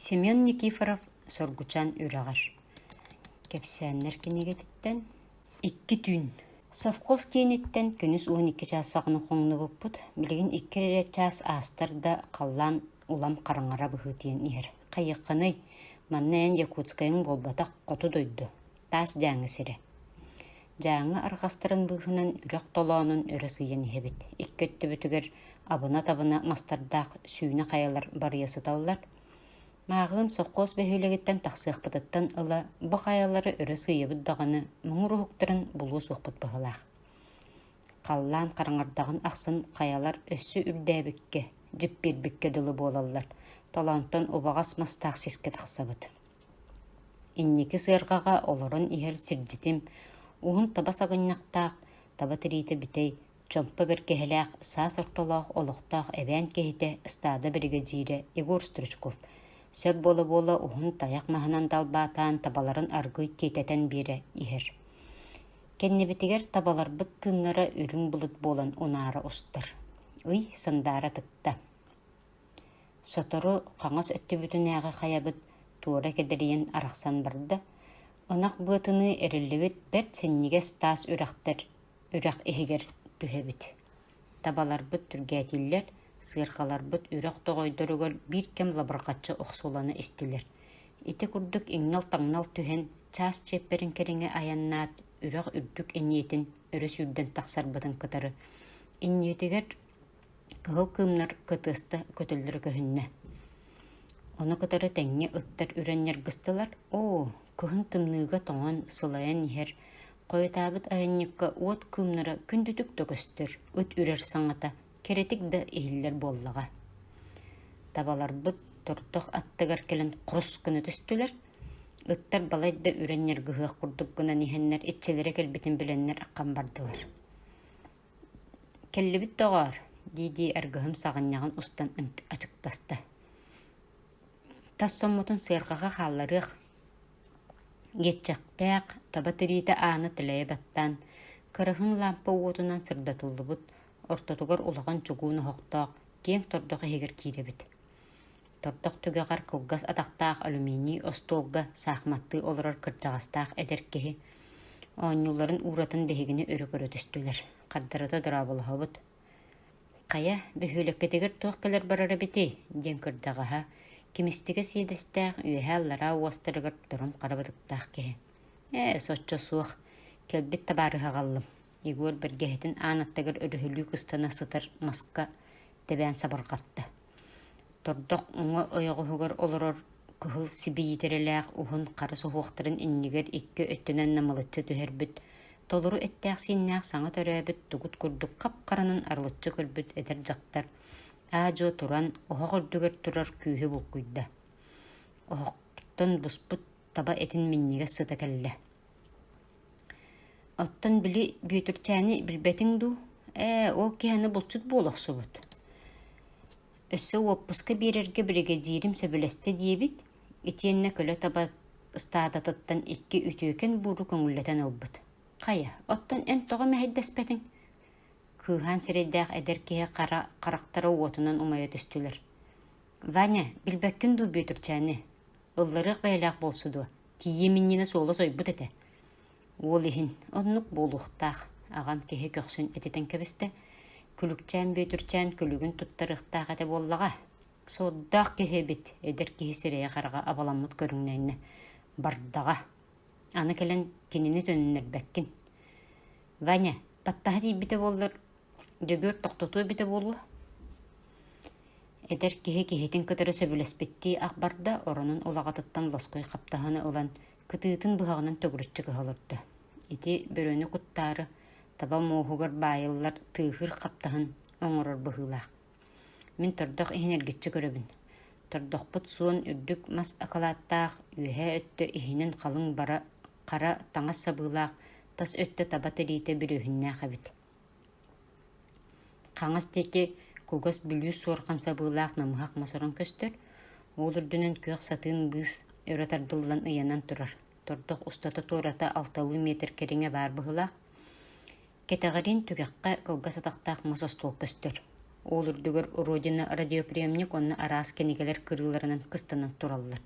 Семен Никифоров Соргучан үрэҕэр Кэпсээннэр кинигэтиттэн икки түүн совхоз кииниттэн күнүс уон икки чаас саҕана хоҥнубуппут билигин икки эрэ чаас аастар да халлаан улам хараҥара быһыытыйан иһэр хайыаххыный манна эн якутскайыҥ буолбатах хоту дойду Таас Дьааҥы сирэ Дьааҥы арҕастарын быыһынан үрэх толоонун өрө сыыйан иһэбит икки өттүбүтүгэр абына-табына мастардаах сүүнэ хайалар барыйа сыталлар Мааҕыын сопхуос бөһүөлэгиттэн тахсыахпытыттан ыла бу хайалары өрө сыыйабыт даҕаны муҥур уһуктарын булуо суохпут быһылаах Халлаан хараҥардаҕын ахсын хайалар өссө үрдээбиккэ, дьиппиэрбиккэ дылы буолаллар, толоонтон убаҕас мастаах сискэ тахсабыт Инники сыарҕаҕа олорон иһэр сирдьитим, уһун таба саҕынньахтаах, таба тириитэ бүтэй, чомпо бэргэһэлээх, саас ортолоох олохтоох эбээн киһитэ, ыстаада биригэдьиирэ Егор Стручков сөп буола-буола уһун тайах маһынан далбаатаан табаларын аргыый тиэтэтэн биэрэ иһэр. Кэннибитигэр табаларбыт тыыннара үрүҥ былыт буолан унаара устар. Ый сандаара тыкта Сотору хаҥас өттүбүтүнээҕи хайабыт туора кэдэрийэн арахсан барда, ынах быатыныы эриллибит бэрт синньигэс таас үрэхтэр үрэх иһигэр түһэбит, табаларбыт түргээтииллэр, сыаркаларбыт үрэх тоҕойдоругар биир кэм лабырҕаччы охсуулана истилэр, ити курдук иҥнэл-таҥнал түһэн чаас чиэппэрин кэриҥэ айаннаат үрэх үрдүк эниэтин өрө сүүрдэн тахсарбытын кытары, иннибитигэр Кыһыл кыымнар кытыаста көтөллөрө көһүннэ. Ону кытары тэҥҥэ ыттар үрэн ньаргыстылар «Оо, кыһын тымныыга тоҥон, сылайан иһэр, хойутаабыт айанньыкка уот кыымнара күндүтүк да көстөр, ыт үрэр саҥата кэрэтик да иһиллэр буоллаҕа» Табаларбыт тордох аттыгар кэлэн хрус гына түстүлэр, ыттар балайда үрэн ньаргыһыах курдук гынан иһэннэр иччилэрэ кэлбитин билэннэр аххан бардылар Кэллибит, доҕоор, дии-дии аргыһым саҕынньаҕын устан ачыктаста: «Тас соммутун сыарҕаҕа хаалларыах» диэччэхтээх, таба тириитэ аана тэлэйэ баттаан, кыраһыын лаампа уотунан сырдатыллыбыт, ортотугар улахан чугуун оһохтоох, киэҥ тордох иһигэр киирэбит Тордох түгэҕэр кылгас атахтаах алюминий остуолга саахыматтыы олорор кырдьаҕастаах эдэр киһи оонньууларын ууратан биһигини өрө көрө түстүлэр, хардарыта дорооболоһобут «Хайа, бөһүөлэккитигэр туох кэлэр барара эбитий?» диэн кырдьаҕаһа, кимистигэ сиэдэстээх, үөһэ-аллараа уостарыгар тором хара бытыктаах киһи. «Ээ, соччо суох, кэлбит табаарыһа аҕаллым». Егор бэргэһэтин аан аттыгар өрүһүлүү кыстана сытар маска тэбээн сабарҕатта. Тордох уҥа ойоҕоһугар олорор кыһыл сибиитирэлээх уһун хара суһуохтарын иннигэр икки өттүнэн намылыччы түһэрбит, толору эттээх-сииннээх саҥа төрөөбүт тугут курдук хап-харанын арылыччы көрбүт эдэр дьахтар аа-дьуо туран, оһох үрдүгэр турар күүһү булкуйда. Оһохтон буспут таба этин минньигэс сыта кэллэ Оттон били Бүөтүрчээни билбэтиҥ дуу, ээ ол киһини булчут буола охсубут өссө уоппуска биэрэргэ биригэдьиирим сөбүлэстэ диэбит итиэннэ көлө таба ыстаадатыттан икки үтүөкэн бууру көҥүллэтэн ылбыт хайа оттон эн тоҕо мэһэйдэспэтиҥ кыыһаан сирэйдээх эдэр киһи хара харахтара уотунан умайа түстүлэр Ваня билбэккин дуу Бүөтүрчээни ылларыах бэйэлээх буолсу дуо Тиийиэм иннинэ суола сойбут этэ, уол иһин оннук буолуохтаах, аҕам киһи көхсүн этитэн кэбистэ, күлүкчээн Бүөтүрчээн күлүгүн туттарыахтаах этэ буоллаҕа. Соддаах киһи эбит, эдэр киһи сирэйэ-хараҕа абаламмыт көрүҥнэннэ, бардаҕа. Аны кэлэн кинини төннөрбөккүн. Ваня, баттаһа тиийбитэ буоллар, Дьөгүөр тохтотуо эбитэ буолуо, эдэр киһи киһитин кытары сөбүлэспиттии ах барда, оронун улаҕатыттан лоскуй хаптаһыны ылан, кытыытын быһаҕынан төгүрүччү көһө олордо. Ити бөрөнү куттаары таба муоһугар баайыллар тыыһыыр хаптаһын оҥорор быһыылаах. Мин тордох иһин эргиччи көрөбүн. Тордохпут суон үрдүк мас акылааттаах, үөһээ өттө иһинэн халыҥ бара, хара таҥас сабыылаах, тас өттө таба тириитэ бүрүөһүннээх эбит Хаҥас диэки кугас Бүлүү суорҕан сабыылаах намыһах мас орон көстөр, ол үрдүнэн күөх сатыын быыс өрө тардыллан ыйанан турар, тордох устата-туората алталыы метр кэриҥэ баар быһыылаах, кэтэҕириин түгэххэ кылгас атахтаах мас остуол көстөр, ол үрдүгэр Родина радиоприемник уонна араас кинигэлэр кырыыларынан кыстанан тураллар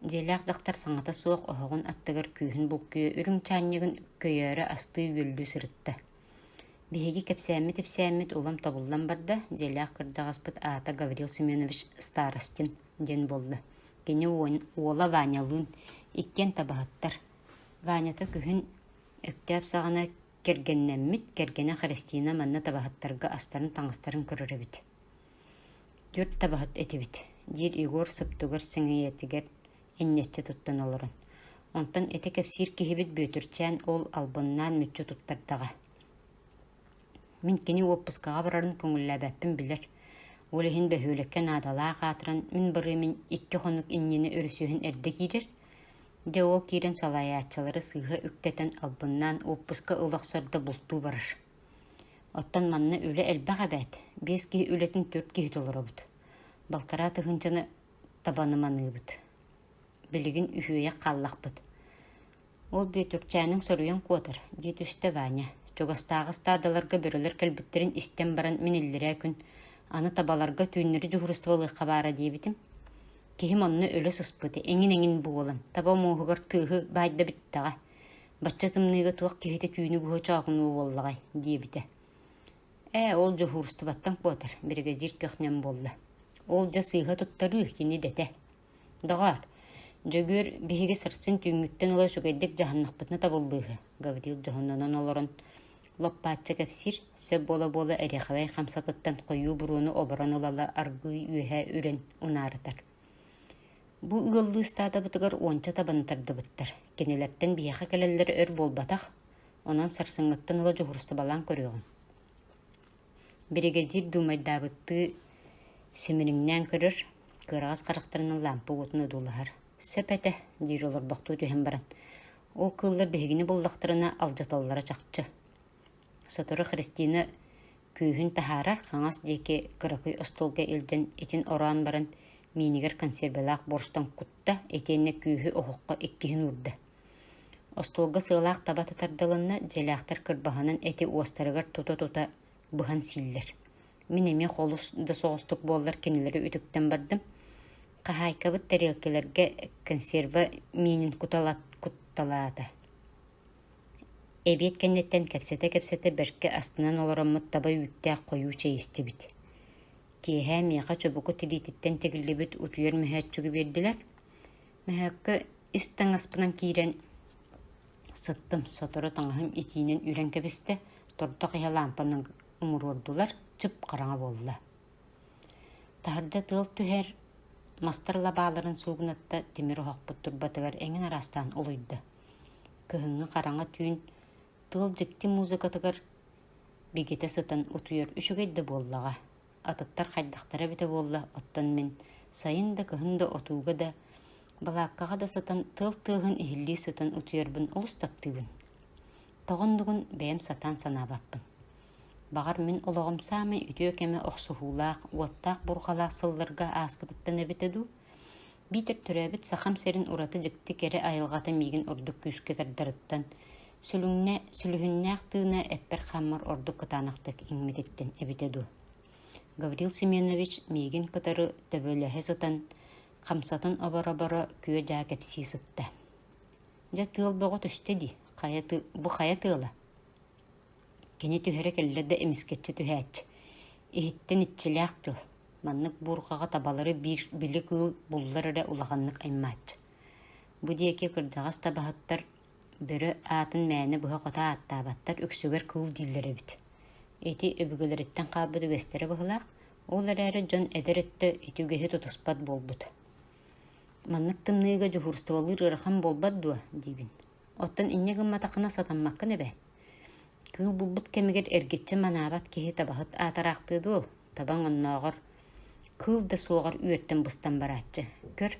Дьиэлээх дьахтар саҥата суох оһоҕун аттыгар күүһүн булкуйа үрүҥ чаанньыгын өккөйөөрү астыы-үөллүү сырытта. Биһиги кэпсээммит-ипсээммит улам тобуллан барда, дьиэлээх кырдьаҕаспыт аата Гаврил Семенович Старостин диэн буолла. Кини уола Ванялыын иккиэн табаһыттар. Ванята күһүн Өктөөп саҕана кэргэннэммит, кэргэнэ Христина манна табаһыттарга астарын-таҥастарын көрөр эбит Түөрт табаһыт этибит, – диир Егор суптугар сэҥийэтигэр инньэччи туттан олорон. Онтон ити кэпсиир киһибит Бүөтүрчээн уол албыннаан мүччү туттардаҕа Мин кини уоппускаҕа барарын көҥүллээбэппин билэр, ол иһин бөһүөлэккэ наадалаах аатыран мин барыамын икки хонук иннинэ өрүсүһэн эрдэ киирэр Дьэ ол киирэн салайааччылары сыыһа үктэтэн албыннаан уоппуска ыла охсор да бултуу барар Оттон манна үлэ элбэх эбээт, биэс киһи үлэтин төрүт киһи толоробут. Балтараа тыһыынчаны табаныманыыбыт. Билигин үһүөйэх хааллахпыт. Ол Бүөтүрчээнин соруйан куотар, диэт үстэ Ваня. Чугастааҕы ыстаадаларга бөрөлөр кэлбиттэрин истэн баран мин иллирээ күн аны табаларга түүннэри дьуһуурустуба баара диэбитим. Киһим онно өлө сыспыт, эҥин-эҥин буолан, таба муоһугар тыаһы баайда бүттэҕэ. Бачча тымныыга туох киһитэ түүнү быһа чоокунуу буоллаҕай? диэбитэ. «Ээ, ол дьуһуурустубаттан куотар, биригэдьиир көхнем буолла. Ол дьэ сыыһа туттарыы кини идэтэ. Доҕоор, Дьөгүөр биһиги сарсын түүҥҥүттэн ыла үчүгэйдик дьаһаннахпытына табыллыыһы», Гаврил дьоһуннанан олорон лоппаачча кэпсиир, сөп буола-буола эриэхэбэй хамсатыттан хойуу буруону оборон ылала аргыый үөһэ үрэн унаарытар Бу ыаллыы ыстаадабытыгар уонча табаны тардыбыттар, кинилэртэн биһиэхэ кэлэллэрэ өр буолбатах, онон сарсыҥҥыттан ыла дьуһурустубалаан көрүөҕүҥ Биригэдьиир дуумайдаабыттыы симириҥнээн көрөр, кыараҕас харахтарын лампа уотун одуулаһар. «Сөп этэ» диир олорбохтуу түһэн баран, ол кыыллар биһигини буллахтарына алдьаталлара чахчы Сотору Христина күүһүн таһаарар хаҥас диэки кыракый остуолга илдьэн итин ороон баран миинигэр консервалаах борщтан кутта итиэннэ күүһү оһоххо иккиһин уурда остуолга сыалаах таба тардылынна дьиэлээхтэр кырбаһанын эти уостарыгар тута-тута быһан сииллэр мин эмиэ холус да соҕустук буоллар кинилэри үтүктэн бардым хаһаайкабыт тарелкаларга консерва миинин кутталаата Эбиэт кэнниттэн кэпсэтэ-кэпсэтэ бэркэ астынан олороммут таба үүттээх хойуу чэй истибит киэһээ миэхэ чубуку тириититтэн тигиллибит утуйар мөһөөччүгү биэрдилэр мөһөөккө ис таҥаспынан киирэн сыттым сотору таҥаһым итиинэн үрэн кэбистэ тордох иһэ лаампанан умуруордулар чып хараҥа буолла таһырдьа тыал түһэр мастар лабааларын суугунатта тимир оһохпут турбатыгар эҥин араастаан улуйда Кыһыҥҥы хараҥа түүн тыал дьикти музыкатыгар бигитэ сытан утуйар үчүгэй да буоллаҕа, атыттар хайдахтара эбитэ буолла, оттон мин сайын да, кыһын да отууга да, балааккаҕа да сытан тыал тыаһын иһиллии сытан утуйарбын олус таптыыбын. Тоҕо оннугун бэйэм сатаан санаабаппын. Баҕар мин олоҕум саамай үтүө кэмэ охсуһуулаах, уоттаах бурҕалаах сылларга ааспытыттан эбитэ дуу, биитэр төрөөбүт Сахам сирин ураты дьикти кэрэ айылҕата миигин ордук күүскэ тардарыттан, сүлүҥнэ, сүлүһүннээх тыына эппэр-хааммар ордук кытаанахтык иҥмититтэн эбитэ дуо? Гаврил Семенович миигин кытары төбөлөһө сытан, хамсатын оборо-оборо күө-дьаа кэпсии сытта. «Дьэ, тыал бөҕө түстэ дии, хайа тыа, бу хайа тыала?» Кини түһэрэ кэллэ да эмискэччи түһээччи, иһиттэн иччилээх тыл, маннык буурҕаҕа табалары биир били кыыл буллар эрэ улаханнык аймааччы. Бу диэки кырдьаҕас табаһыттар бөрө аатын мээнэ быһа хото ааттаабаттар үксүгэр кыыл дииллэр эбит. Ити өбүгэлэриттэн хаалбыт үгэстэрэ быһылаах, ол эрээри дьон эдэр өттө ити үгэһи тутуспат буолбут «Маннык тымныыга дьуһуурустубалыыр ыарахан буолбат дуо?» диибин Оттон инньэ гымматаххына сатаммаккын эбээт. Кыыл булбут кэмигэр эргиччи манаабат киһи табаһыт аатараахтыы дуо? Табаҥ оннооҕор кыыл да суоҕар үөртэн быстан барааччы. Көр,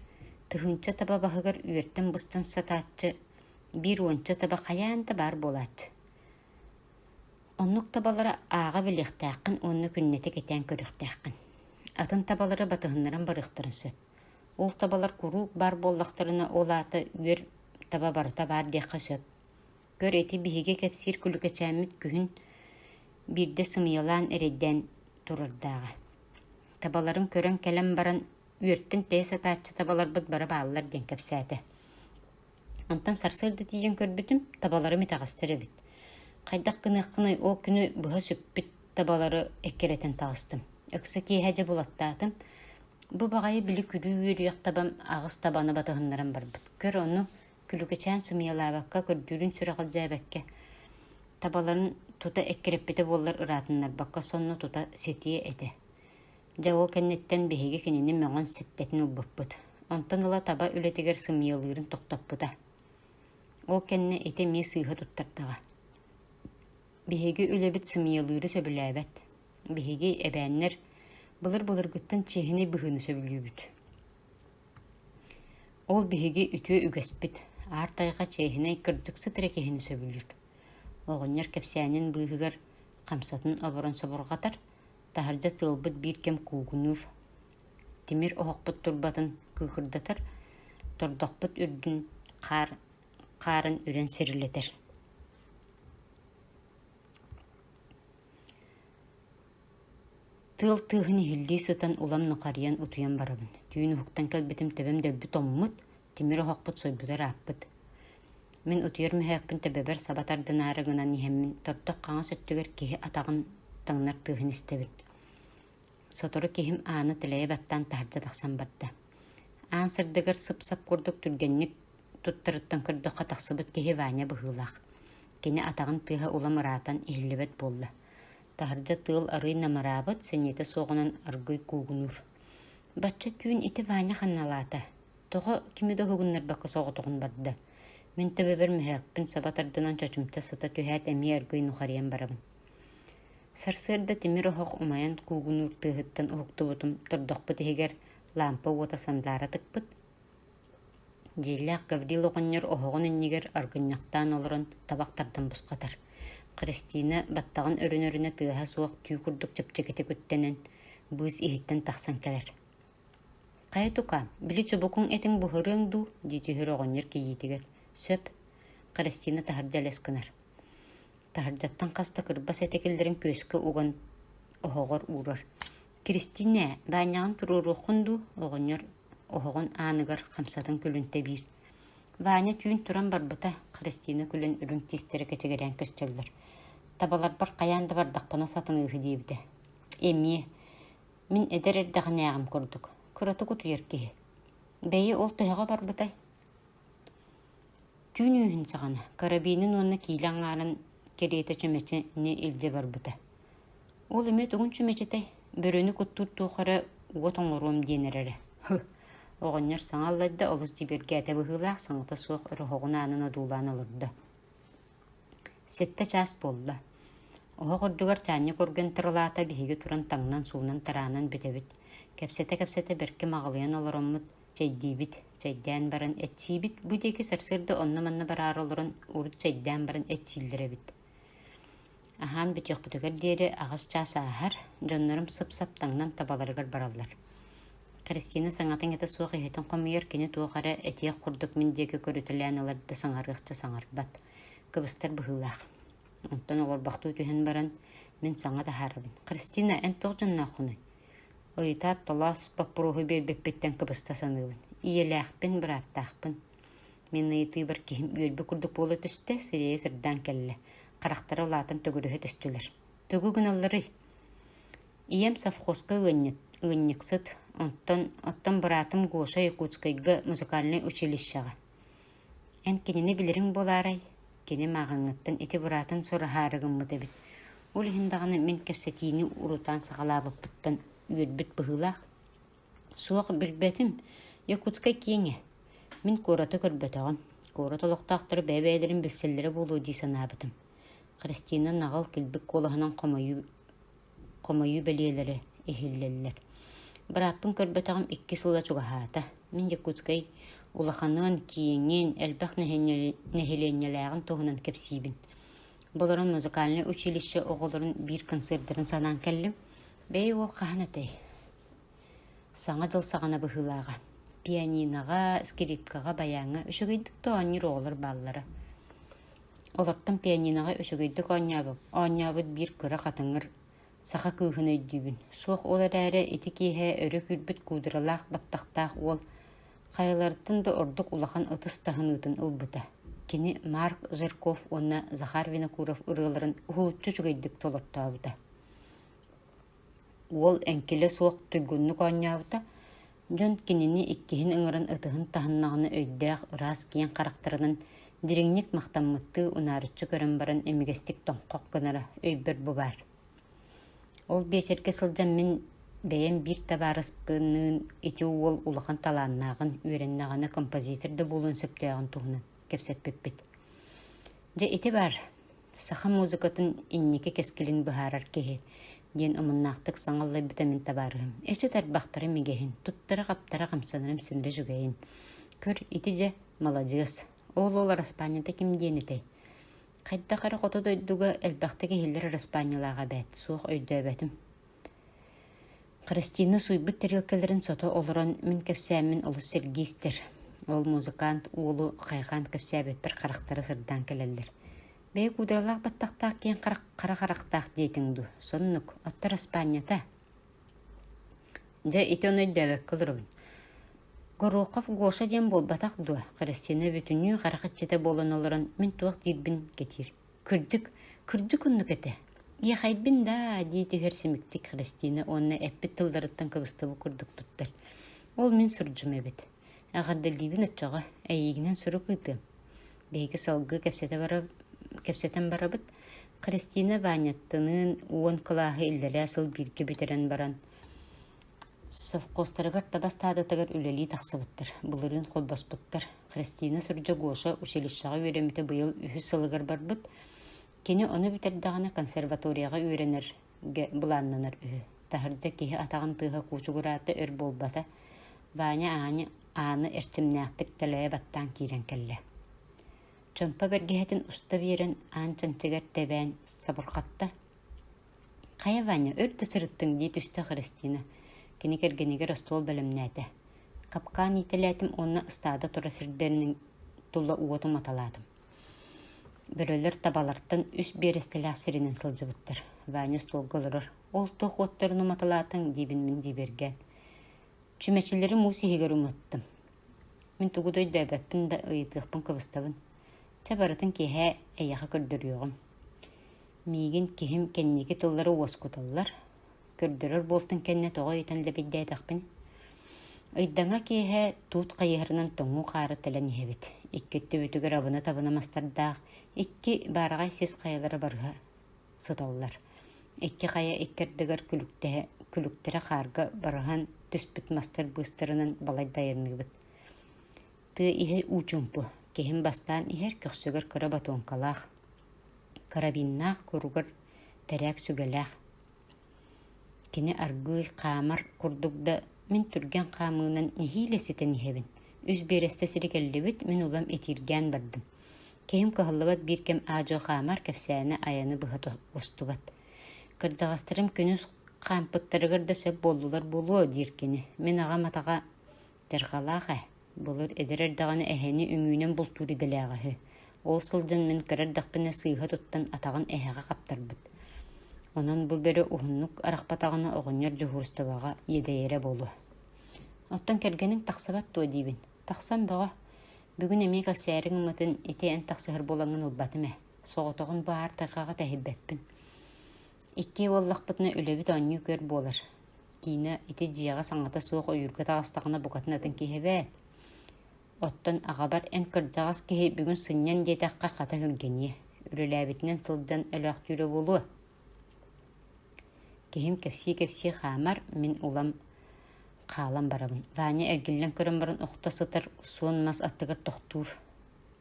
тыһыынча таба баһыгар үөртэн быстан сатааччы, биир уонча таба хайаан да баар буолааччы. Оннук табалары ааҕа билиэхтээххин уонна күннэтэ кэтээн көрүөхтээххин. Атын табалары батыһыннаран барыахтарын сөп. Ол табалар куруук баар буоллахтарына, ол аата үөр таба барыта баар диэххэ сөп. Көр, ити биһиги кэпсиир күлүкэчээммит күһүн биирдэ сымыйалаан эрэйдээн турардааҕа. Табаларын көрөн кэлэн баран, үөртэн тэйэ сатааччы табаларбыт бары бааллар диэн кэпсээтэ Онтон сарсыарда тиийэн көрбүтүм, табаларым итэҕэстэр эбит. Хайдах гыныаххыный, ол күнү быһа сүппүт табалары эккирэтэн таҕыстым. Ыкса киэһэ дьэ булаттаатым. Бу баҕайы били күлүү үөрүйэх табам аҕыс табаны батыһыннаран барбыт. Көр ону, күлүкүчээн сымыйалаабакка, көрдүүрүн сүрэҕэлдьээбэккэ, табаларын тута эккирэппитэ буоллар ыраатыннарбакка, сонно тута ситиэ этэ Дьэ ол кэнниттэн биһиги кинини мөҕөн ситтэтин ылбыппыт. Онтон ыла таба үлэтигэр сымыйалыырын тохтоппута. Ол кэннэ ити эмиэ сыыһа туттардаҕа. Биһиги үлэбит сымыйалыыры сөбүлээбэт. Биһиги эбээннэр былыр-былыргыттан чиэһинэй быһыыны сөбүлүүбүт. Ол биһиги үтүө үгэспит. Аар тайҕа чиэһинэй кырдьык сытара киһини сөбүлүүр. Оҕонньор кэпсээнин быыһыгар хамсатын оборон собурҕатар, таһырдьа тыалбыт биир кэм куугунуур тимир оһохпут турбатын кыыкырдатар тордохпут үрдүн хаар хаарын үрэн сирилэтэр тыал тыаһын иһиллии сытан улам нухарыйан утуйан барабын түүн уһуктан кэлбитим тэбэм дэлби томмут Тимир оһохпут сойбутугар ааппыт. Мин утуйар мөһөөкпүн төбөбөр саба тардынаары гынан иһэммин, тоттох хаҥас өттүгэр киһи атаҕын таҥнар тыаһын истэбит. Сотору киһим ааны тэлэйэ баттаан таһырдьа тахсан барда. Аан сырдыгар сып-сап курдук түргэнник туттарыттан көрдөххө тахсыбыт киһи Ваня быһыылаах. Кини атаҕын тыаһа улам ыраатан иһиллибэт буолла. Таһырдьа тыал арыый намыраабыт, сэниэтэ суоҕунан аргыый куугунуур Бачча түүн ити Ваня ханналаата, тоҕо кими да уһугуннарбакка соҕотоҕун барда, мин төбөбөр мөһөөкпүн саба тардынан чочумча сыта түһээт эмиэ өргөй нухарыйан барабын Сарсыарда тимир оһох умайан куугунуур тыаһыттан уһуктубутум тордохпут иһигэр лаампа уота сандаара тыкпыт Дьиэлээх Гаврил оҕонньор оһоҕун иннигэр аргынньахтаан олорон табах тардан бусхатар, Христина баттаҕын өрүнэ-өрүнэ тыаһа суох түү курдук чэпчэкитик үктэнэн, быыс иһиттэн тахсан кэлэр: «Хайа, тукаам, били чубукуҥ этиҥ буһарыаҥ дуу?» дии түһэр оҕонньор кийиитигэр: «Сөп», Христина таһырдьа элэс гынар. Таһырдьаттан хас да кырбас этэ киллэрэн күөскэ уган оһоҕор уурар Кристина, баанньаҕын туруоруоххун дуу? оҕонньор оһоҕун ааныгар хамсатын күлүнтэ биир. Ваня түүн туран барбыта, Христина күлэн үрүҥ тиистэрэ кэчигирээн көстөллөр. Табаларбар хайаан да бардахпына сатаныыһы диэбитэ. Эмиэ, мин эдэр эрдэҕинээҕим курдук, кыратык утуйар киһи. Бэйи, ол төһөҕө барбытай? түүн үүһүн саҕана карабинын уонна киилэ аҥаарын кэриэтэ чүмэчини илдьэ барбыта ол эмиэ тугун чүмэчитэй бөрөнү куттуур туох эрэ уот оҥоруом диэн эрэрэ һы оҕонньор саҥа аллайда олус дьибиэргээтэ быһыылаах саҥата суох өрөһөҕүн аанын одуулаан олордо сэттэ чаас буолла оһох үрдүгэр чаанньык үргэн тырылаата биһиги туран таҥнан суунан тараанан бүтэбит кэпсэтэ-кэпсэтэ бэркэ маҕылыйан олороммут чэйдиибит. Чэйдээн баран эчсиибит. Бу диэки сарсыарда онно-манна бараары олорон урут чэйдээн баран эчсииллэр эбит. Аһаан бүтүөхпүтүгэр диэри аҕыс чаас ааһар, дьоннорум сып-сап таҥнан табаларыгар бараллар. Кристина саҥатын этэ суох иһитин хомуйар, кини туох эрэ этиэх курдук мин диэки көрүтэлээн ылар да саҥарыахча саҥарбат. Кыбыстар быһыылаах. Онтон олорбохтуу түһэн баран, мин саҥа таһаарабын. Кристина, эн туох дьоннооххунуй? Ыйытаат толоос боппуруоһу биэрбиппиттэн кыбыста саныыбын: ийэлээхпин, бырааттаахпын. Мин ыйытыыбар киһим үөрбүт курдук буола түстэ, сирэйэ сырдаан кэллэ, харахтара улаатан төгүрүһэ түстүлэр. «Тугу гыналларый?» «Ийэм совхозка ыанньыт ыанньыксыт, онтон оттон быраатым Гоша Якутскайга музыкальнай училищеҕа» Эн кинини билириҥ буолаарай, кини мааҕыҥҥыттан ити быраатын сураһаары гыммыт эбит, ол иһин даҕаны мин кэпсэтиини урутаан саҕалаабыппыттан үөрбүт быһыылаах «Суох, билбэтим, Якутскай киэҥэ, мин куораты көрбөтөҕүм, куорат олохтоохторо бэйэ-бэйэлэрин билсэллэрэ буолуо дии санаабытым» Христина наҕыл килбик куолаһынан хомойуу хомойуу бэлиэлэрэ иһиллэллэр. Бырааппын көрбөтөҕүм икки сыла чугаһаата. Мин Якутскай улаханын, кииҥҥин, элбэх нэһилиэнньэлээҕин туһунан кэпсиибин. Болорон музыкальнай училище оҕолорун биир концертарын санаан кэллим. Бэйи уол хаһан этэй? Саҥа дьыл саҕана быһыылааҕа. Пианиноҕа, скрипкаҕа, баяҥҥа үчүгэйдик да оонньуур оҕолор бааллара. Олортон пианиноҕа үчүгэйдик оонньообут оонньообут биир кыра хатыҥыр саха кыыһын өйдүүбүн, суох ол эрээри ити киэһэ өрө күүрбүт куудралаах баттахтаах уол хайаларыттан да ордук улахан ытыс таһыныытын ылбыта. Кини Марк Жирков уонна Захар Винокуров ырыаларын уһулуччу үчүгэйдик толортообута Уол эҥкилэ суох туйгуннук оонньообута, дьон кинини иккиһин ыҥыран ытыһын таһыннаҕына өйдөөх ыраас киэҥ харахтарынан дириҥник махтаммыттыы унаарыччы көрөн баран имигэстик тоҥхох гынара өйбөр бу баар Ол биэчэргэ сылдьан мин бэйэм биир табаарыспынныын ити уол улахан талааннааҕын, үөрэннэҕинэ композитор да буолуон сөптөөҕүн туһунан кэпсэппиппит. Дьэ, ити баар саха музыкатын инники кэскилин быһаарар киһи диэн омуннаахтык саҥа аллайбыта мин табаарыһым эчит арбахтара мигэһин туттара-хаптара хамсанарым синре жүгэйин көр ити дьэ маладьыас оол ол араспаанньата ким диэн этэй хайдах эрэ хоту дойдуга элбэхтик иһиллэр араспаанньалаах эбээт суох өйдөөбөтүм Христина суйбут тарелкаларын сото олорон мин кэпсээммин олус сэргии истэр. Ол музыкант уолу хайҕаан кэпсээбиппэр харахтара сырдаан кэлэллэр. «Бэйэ куудралаах баттахтаах киэҥ харах хара харахтаах диэтиҥ дуу? Соннук, оттор Аспаанньата?» «Дьэ, ити ону өйдөөбөккө олоробун. Горохов Гоша диэн буолбатах дуо?» Христина бүтүннүү харах иччитэ буолан олорон мин туох диирбин кэтиир Кырдьык, кырдьык оннук этэ. Иэхэйбин даа дии түһэр симиктик Христина уонна эппит тылларыттан кыбыстыбыт курдук туттар. Ол мин сурдьум эбит. Эҕэрдэлиибин оччоҕо, эйиигинэн сурук ыытыам. Биһиги салгыы кэпсэтэ бара кэпсэтэн барабыт. Христина Ваняттыныын уон кылааһы иллэлээ сыл бииргэ бүтэрэн баран Совхозтарыгар таба ыстаадатыгар үлэлии тахсыбыттар, былырыын холбоспуттар. Христина Сурдьагоша училищеҕа үөрэммитэ быйыл үһүс сылыгар барбыт. Кини ону бүтэрдэҕинэ консерваторияҕа үөрэнэргэ былааннанар үһү. Таһырдьа киһи атаҕын тыаһа куучугураата өр буолбата, Ваня ааны, ааны эрчимнээхтик тэлэйэ баттаан киирэн кэллэ. Чомпо бэргэһэтин уста биэрэн аан чанчыгар тэбээн сабырҕатта, Хайа, Ваня, өр да сырыттыҥ, дии түстэ Христина, кини кэргэнигэр остуол бэлэмнээтэ. Хапкаан иитэлээтим уонна ыстаада тура сирдэринэн тула уоту маталаатым. Бөрөлөр табалартан үс биэрэстэлээх сиринэн сылдьыбыттар. Ваня остуолга олорор. «Ол туох уоттарын уматалаатыҥ?» диэбин мин дьиибэргээн. Чүмэчилэри муус иһигэр уматтым. Мин тугу да өйдөөбөппүн да ыйытыахпын кыбыстабын. Чэ барытын киэһээ эйиэхэ көрдөрүөҕүм Миигин киһим кэнники тыллары уоскуталлар, көрдөрөр буолтун кэннэ тоҕо ыйытан лэбирдээтэхпин, ыйдаҥа киэһэ туут хайыһарынан тоҥуу хаары тэлэн иһэбит. Икки өттүбүтүгэр абына-табына мастардаах, икки баараҕай сис хайалара барыһа сыталлар. Икки хайа икки ардыгар күлүктэһэ, күлүктэрэ хаарга барыһан түспүт мастар быыстарынан балайда айанныыбыт. Тыа иһэ уучумпу, киһим бастаан иһэр көхсүгэр кыра ботуоҥкалаах, карабиннаах, куругар тэрээк сүгэлээх. Кини аргыый хаамар курдук да, мин түргэн хаамыынан нэһиилэ ситэн иһэбин. Үс биэрэстэ сири кэллибит, мин улам итииргээн бардым. Киһим кыһаллыбат биир кэм аа-дьуо хаамар кэпсээнэ айаны быһа устубат. Кырдьаҕастарым күнүс хаампыттарыгар да сөп буоллулар буолуо диир кини. Мин аҕам атаҕа Чархалаах ээ, былыр эдэр эрдэҕинэ эһэни үҥүүнэн бултуур идэлээҕэ үһү, ол сылдьан мин кыра эрдэхпинэ сыыһа туттан атаҕын эһэҕэ хаптарбыт. Онон бу бөрө уһуннук арахпатаҕына оҕонньор дьуһуурустубаҕа иэдэйэрэ буолуо Оттон кэргэниҥ тахсыбат дуо диибин. Тахсан бөҕө. Бүгүн эмиэ кэлсээри гыммытын ити эн тахсыһар буолаҥҥын ылбатым ээ. Соҕотоҕун бу аар тайҕаҕа тэһийбэппин Иккиэ буоллахпытына үлэбит оонньуу күөр буолар. Тина ити дьиэҕэ-саҥата суох ойуурга таҕыстаҕына букатын атын киһи эбээт. Оттон аҕабар эн кырдьаҕас киһи бүгүн сынньан диэтэххэ хата өһүргэниэ. Үлэлээбитинэн сылдьан өлөөхтүүрэ буолуо. Киһим кэпсии-кэпсии хаамар, мин улам хаалан барабын. Ваня эргиллэн көрөн баран охто сытар, суон мас аттыгар тохтуур.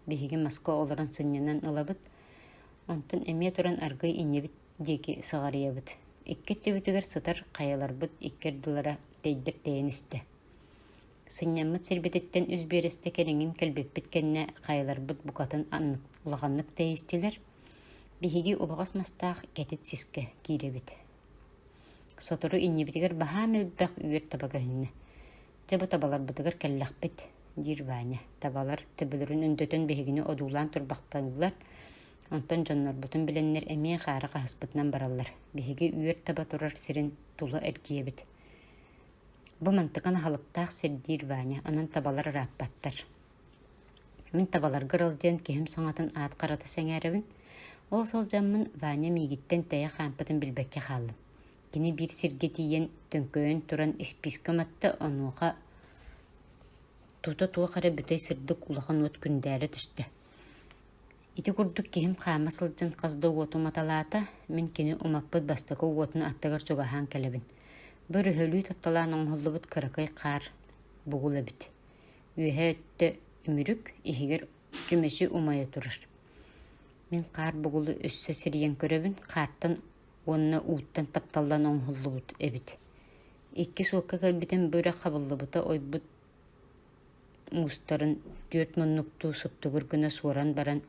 Биһиги маска олорон сынньанан ылабыт. Онтон эмиэ туран аргыый иннибит диэки сыҕарыйабыт. Икки өттүбүтүгэр сытар хайаларбыт икки ардылара тэйдэр тэйэн истэ. Сынньаммыт сирбититтэн үс биэрэстэ кэриҥин кэлбиппит кэннэ хайаларбыт букатын аннык улаханнык тэйистилэр. Биһиги убаҕас мастаах кэтит сискэ киирэбит. Сотору иннибитигэр баһаам элбэх үөр таба көһүннэ. Чэ бу табаларбытыгар кэллэхпит, диир Ваня. Табалар төбөлөрүн өндөтөн биһигини одуулаан турбахтанылар. Онтон дьоннорбутун билэннэр эмиэ хаары хаһыспытынан бараллар. Биһиги үөр таба турар сирин тула эргийэбит. Бу мантыкан аһылыктаах сир диир Ваня, онон табалар ырааппаттар. Мин табаларга ырал диэн киһим саҥатын аат харата сэҥээрэбин. Ол сылдьаммын Ваня миигиттэн тэйэ хаампытын билбэккэ хааллым. Кини биир сиргэ тиийэн төҥкөйөн туран испиискэ матта, онуоха тута туох эрэ бүтэй сырдык улахан уот күндээлэ түстэ. Ити курдук киһим хаама сылдьан хас да уоту маталаата, мин кини умаппыт бастакы уотун аттыгар чугаһаан кэлэбин. Быр өһөлүү тапталаан оҥоһуллубут кыракый хаар бугул эбит. Үөһэ өттө үмүрүк, иһигэр түмэси умайа турар. Мин хаар бугулу өссө сирийэн көрөбүн, хаартан уонна ууттан тапталлан оҥоһуллубут эбит. Иккис уокка кэлбитим бырах хабыллыбыта ойбут муустарын түөрт муннуктуу суптугур гына суоран баран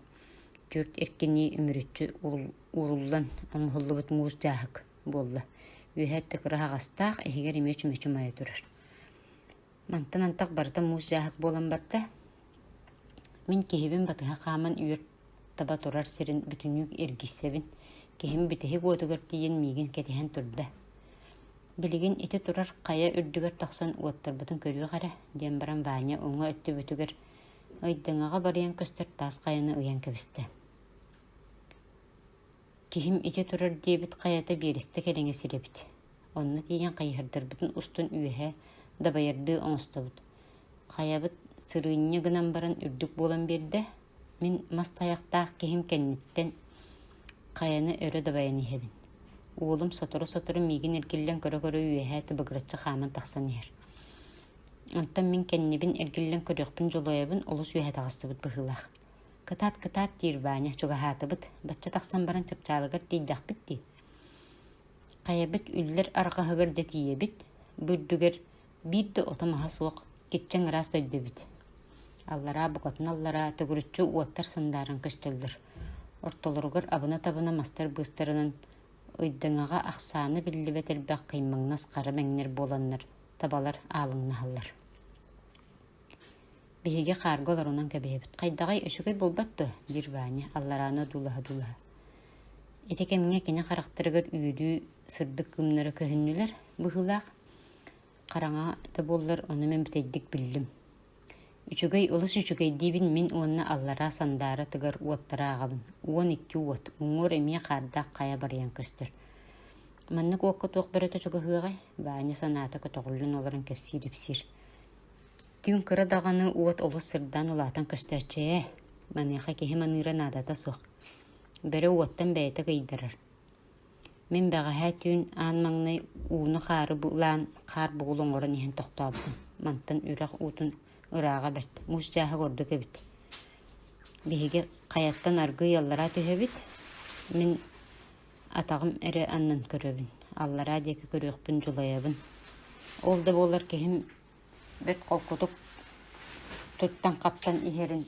түөрт эркинии үмүрүччү ууруллан оҥоһуллубут муус дьааһык буолла. Үөһэ тыкыраһаҕастаах, иһигэр эмиэ чүмэчи умайа турар Мантан антах барыта муус дьааһык буолан барда. Мин киһибин батыһа хааман үөр таба турар сирин бүтүннүүк эргиссэбин. Киһим бүтэһик уотугар тиийэн миигин кэтэһэн турда. Билигин ити турар хайа үрдүгэр тахсан уоттарбытын көрүөх эрэ, диэн баран Ваня уҥа өттүбүтүгэр Айдаҥаҕа барыйан көстөр таас хайаны ыйан кэбистэ. Киһим итэ турар диэбит хайата биэрэстэ кэриҥэ сир эбит, онно тиийэн хайыһардарбытын устун үөһэ дабайардыы оҥостобут, хайабыт сырыынньа гынан баран үрдүк буолан биэрдэ, мин мас тайахтаах киһим кэнниттэн хайаны өрө дабайан иһэбин, уолум сотору-сотору миигин эргиллэн көрө-көрө үөһэ тыбыгыраччы хааман тахсан иһэр, оттон мин кэннибин эргиллэн көрүөхпүн дьулуйабын олус үөһэ таҕыстыбыт быһыылаах Кытаат, кытаат, диир Ваня чугаһаатыбыт, бачча тахсан баран чапчаалыгар тиийдэхпит дии. Хайабыт үллэр арҕаһыгар дьэ тиийэбит, бу үрдүгэр биир да ото-маһа суох киччэҥ ыраас дойду эбит. Аллараа букатын-аллараа төгүрүччү уоттар сындааран көстөллөр. Ортолоругар абына-табына мастар быыстарынан ыйдаҥаҕа ахсаана биллибэт элбэх кыймаҥнас хара мэҥнэр буоланнар табалар аалыҥнаһаллар. Биһиги хаарга олорунан кэбиһэбит. «Хайдаҕый, үчүгэй буолбат дуо?» диир Ваня, алларааны одуулаһа-одуулаһа. Ити кэмҥэ кини харахтарыгар үөлүү сырдык кымнара көһүннүлэр быһыылаах. Хараҥа да буоллар, ону мин бүтэйдик биллим. Үчүгэй олус үчүгэй диибин мин уонна аллараа сандаара тыгар уоттара ааҕабын. Уон икки уот, уҥуор эмиэ хаардаах хайа барыйан көстөр. Маннык уокка туох бөрөтө чугаһыаҕай? Ваня санаата көтөҕүллэн олорон кэпсиир-ипсиир. Түүн кыра даҕаны уот олус сырдаан улаатан көстөөччү ээ, маныаха киһи маныыра наадата суох. Бөрө уоттан бэйэтэ кыйдарар. Мин бэҕэһээ түүн аан маҥнай ууну-хаары булаан хаар бугул оҥорон иһэн тохтообутум. Мантан үрэх уутун ырааҕа бэрт, муус дьааһык ордук эбит. Биһиги хайаттан аргы ыаллара түһэбит, мин атаҕым эрэ аннан көрөбүн, аллараа диэки көрүөхпүн дьулайабын. Ол да буоллар киһим бэрт холкутук туттан-хаптан иһэрин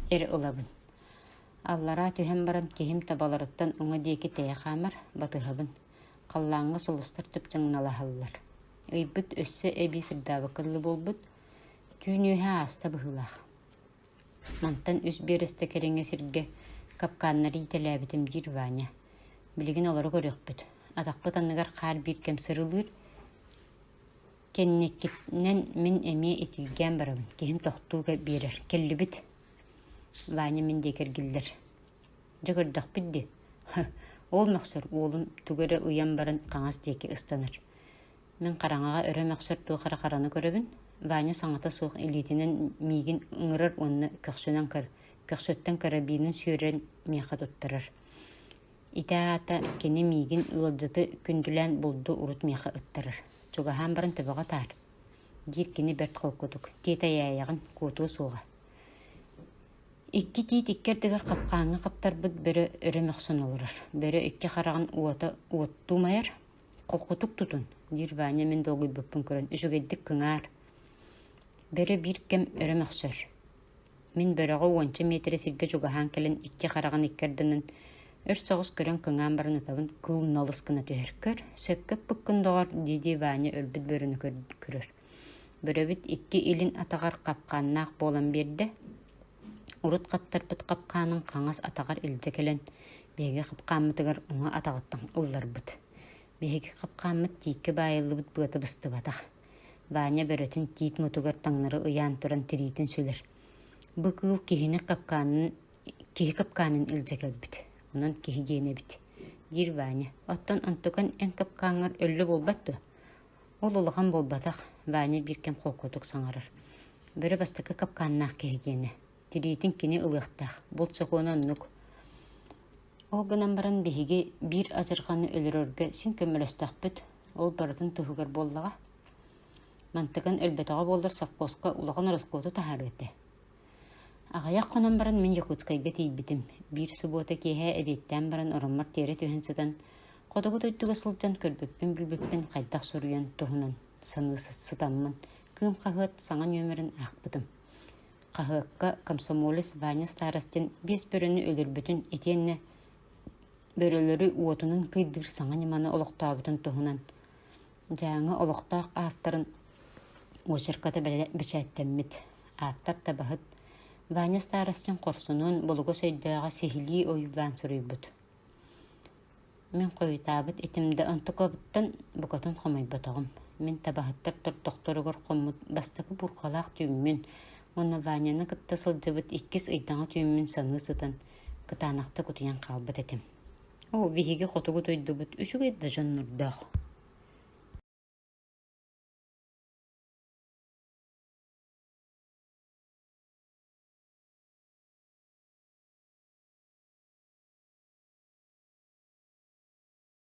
эрэ ылабын. Аллараа түһэн баран киһим табаларыттан уҥа диэки тэйэ хаамар батыһабын. Халлааҥҥа сулустар тыпчаҥналаһаллар. Ыйбыт өссө эбии сырдаабакка дылы буолбут, түүн үөһэ ааста быһыылаах Мантан үс биэрэстэ кэриҥэ сиргэ капкааннары иитэлээбитим диир Ваня. Билигин олору көрүөхпүт, атахпыт анныгар хаар биир кэм сырылыыр, кэнникитинэн мин эмиэ итииргээн барабын, киһим тохтууга биэрэр. Кэллибит. Ваня мин диэки эргиллэр. Дьэ көрдөхпүт дии, ол мөхсөр уолум тугу эрэ ыйан баран хаҥас диэки ыстанар. Мин хараҥаҕа өрө мөхсөр туох эрэ хараны көрөбүн, Ваня саҥата суох илиитинэн миигин ыҥырар уонна көхсүнэн көр, көхсүттэн карабинын сүөрэн миэхэ туттарар. Ити аата кини миигин ыалдьыты күндүлээн булду урут миэхэ ыттарар. Чугаһаан баран төбөҕө таар, диир кини бэрт холкутук, тиэтэйээйэҕин куотуо суоҕа. Икки тиит икки ардыгар хапкааҥҥа хаптарбыт бөрө өрө мөхсөн олорор. Бөрө икки хараҕын уота уоттуу умайар, холкутук тутун диир Ваня мин долгуйбуппун көрөн үчүгэйдик кыҥаар бөрө биир кэм өрө мөхсөр мин бөрөҕө уонча миэтэрэ сиргэ чугаһаан кэлэн икки хараҕын икки ардынан өр соҕус көрөн кыҥаан баран ытабын кыыл налыс гына түһэр көр сөпкө эппиккин доҕор дии-дии Ваня өлбүт бөрөнү көрөр бөрөбүт икки илин атаҕар хапкааннаах буолан биэрдэ Урут хаптарбыт хапкаанын хаҥас атаҕар илдьэ кэлэн, биһиги хапкааммытыгар уҥа атаҕыттан ылларбыт. Биһиги хапкааммыт тииккэ баайыллыбыт быата быстыбатах. Ваня бөрөтүн тиит мутугар таҥнары ыйаан туран тириитин сүлэр. Бу кыыл киһини хапкаанын киһи хапкаанын илдьэ кэлбит. Онон киһи диэн эбит, диир Ваня. Оттон онтукан эн хапкааҥҥар өллө буолбат дуо? Ол улахан буолбатах, Ваня биир кэм холкуотук саҥарар. Бөрө бастакы капкааннаах киһи диэнэ. Тириитин кини ылыахтаах, булт сокуона оннук. Ол гынан баран биһиги биир адьырҕаны өлөрөргө син көмөлөстөхпүт, ол барытын туһугар буоллаҕа. Мантыкан өлбөтөҕө буоллар совхозка улахан ороскуоту таһаарыа этэ Аҕыйах хонон баран мин Якутскайга тиийбитим. Биир субуота киэһэ эбиэттээн баран ороммор тиэрэ түһэн сытан, хотугу дойдуга сылдьан көрбүппүн-билбиппин хайдах суруйан туһунан саныы сытаммын, Кыым хаһыат саҥа нүөмэрин аахпытым. Хаһыакка комсомолец Ваня Старостин биэс бөрөнү өлөрбүтүн итиэннэ бөрөлөрү уотунан кыйдыыр саҥа ньыманы олохтообутун туһунан Дьааҥы олохтоох ааттарын очерката бэчээттэммит. Ааптар табаһыт Ваня Старостин хорсунун Булугус өйдөөҕө сиһилии ойуулаан суруйбут. Мин хойутаабыт итим да онтукабыттан букатын хомойботоҕум. Мин табаһыттар тордохторугар хоммут бастакы бурҕалаах түүммүн уонна Ваняны кытта сылдьыбыт иккис ыйдаҥа түүммүн саныы сытан, кытаанахта кутуйан хаалбыт этим Оо, биһиги хотугу дойдубут үчүгэй да дьоннордоох